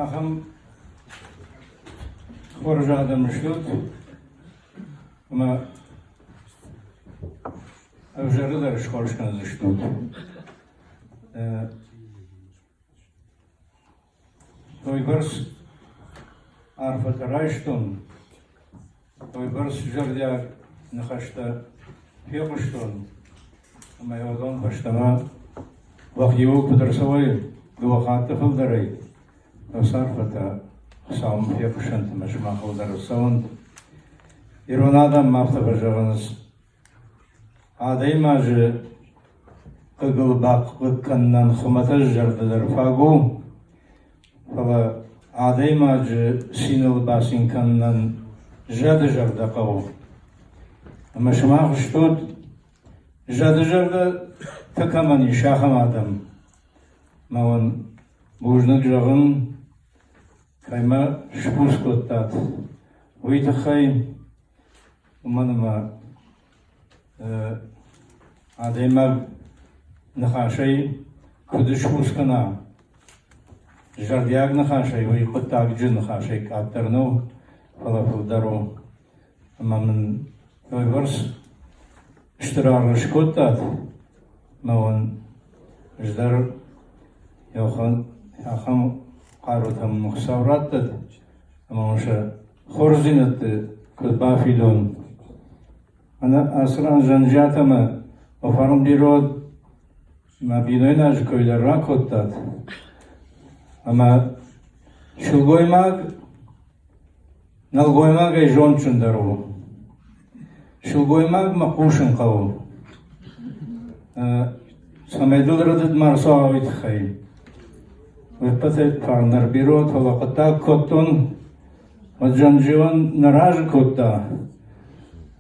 Ахӕм хорз адӕм стут, ӕмӕ ӕвзӕры дӕр схорз кӕндзыстут. Уойбӕрц арфӕтӕ райстон. уыйбӕрц зӕрдиаг ныхӕстӕ фехъуыстон, ӕмӕ уыдон фӕстӕмӕ уӕхиуыл куыд ӕрцӕуай дыууӕ хатты фылдӕрӕй, уыцы арфӕтӕ Хуыцауӕн фехъусӕнтимӕ сымахыл дӕр ӕрцӕуӕнт. Ирон адӕм ма афтӕ фӕзӕгъынц: Адӕймаджы хъыгыл бахъыг кӕнынӕн хуымӕтӕджы зӕрдӕ дӕр фаг у, фӕлӕ адӕймаджы циныл бацин кӕнынӕн зӕды зӕрдӕ хъӕуы. Ӕмӕ сымах зӕгъут, зӕды зӕрдӕтӕ кӕмӕн ис, ахӕм адӕм. Мауӕн бузныг зӕгъын, кӕй мӕ сбуц кодтат, уый тыххӕй. уымӕн ӕмӕ адӕймаг ныхасӕй куыд схъус кӕна, зӕрдиаг ныхасӕй уый хъуыддаджы ныхасӕй къаддӕр нӕу, фӕлӕ фылдӕр у. Ӕмӕ мын уыйбӕрц стыр аргъ скодтат, ӕмӕ уын ӕз дӕр ахӕм хъарутӕм мын Хуыцау радтӕд, ӕмӕ уын сӕ хорздзинӕдты куыд бафидон ацы ран Зӕнджиат ӕмӕ фӕрнбирод ӕмӕ бинойнаг кой дӕр ракодтат ӕмӕ сылгоймаг нӕлгоймагӕй зондджындӕр у. Сылгоймагмӕ хъусын хъӕуы, цӕмӕй дыл рӕдыд ма рцуауай тыххӕй. Ӕппӕтӕй фӕндӕр бирӕ, фӕлӕ хъуыддаг кодтон, уӕд Джанджион нӕ разы кодта,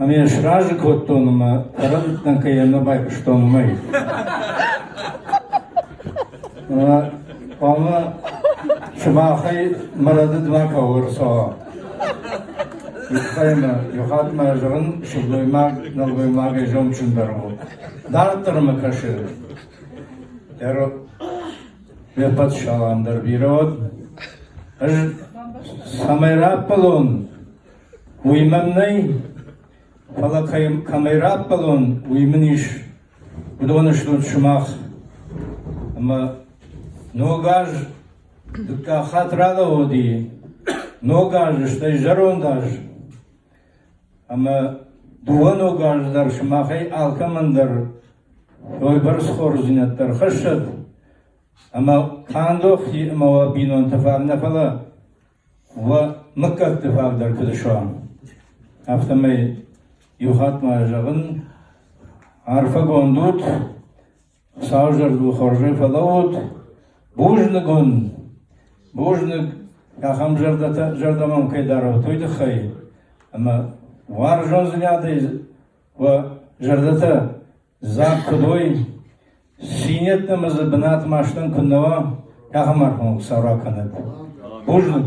ӕмӕ йӕ сразы кодтон ӕмӕ ӕрӕмбырд дӕн, кӕй йӕм нӕ байхъуыстон, уымӕй. Хъуамӕ сымахӕй мӕ рӕдыдмӕ кӕуы рцӕуа. Ихӕй мӕ, ихат мӕ зӕгъын сылгоймаг, нӕлгоймагӕй зондджындӕр у. Дарддӕр мӕ кӕсы. Ӕро ме ппӕт салам дӕр бирӕ уӕд. Ӕз цӕмӕй раппӕлон, уый мӕм нӕй, фӕлӕ кӕй, кӕмӕй раппӕлон, уый мын ис. Уыдоны стут сымах. Ӕмӕ ног аз дыккаг хатт ралӕууыди. Ног азы, стӕй зӕронд аз. Ӕмӕ дыууӕ ног азы дӕр сымахӕй алкӕмӕн дӕр уойбӕрц хорздзинӕдтӕ рхӕссӕд, ӕмӕ тандох ӕмӕ уӕ бинонтӕ фӕнӕ фӕлӕ Уӕ мыггӕгты фаг дӕр куыд суӕм, афтӕмӕй иу хатт ма зӕгъын, арфӕгонд ут, Хуыцауы зӕрдыл хорзӕй фӕлӕуут, бузныг уын, бузныг ахӕм зӕрдӕтӕ, зӕрдӕ мӕм кӕй дарут, уый тыххӕй, ӕмӕ уарзондзинадӕй уӕ зӕрдӕтӕ Дзаг куыд уой, цин йеддӕмӕ дзы бынаты ма стӕн куыннӕ уа, ахӕм аргъуанг сау ракӕнӕд. Бузныг!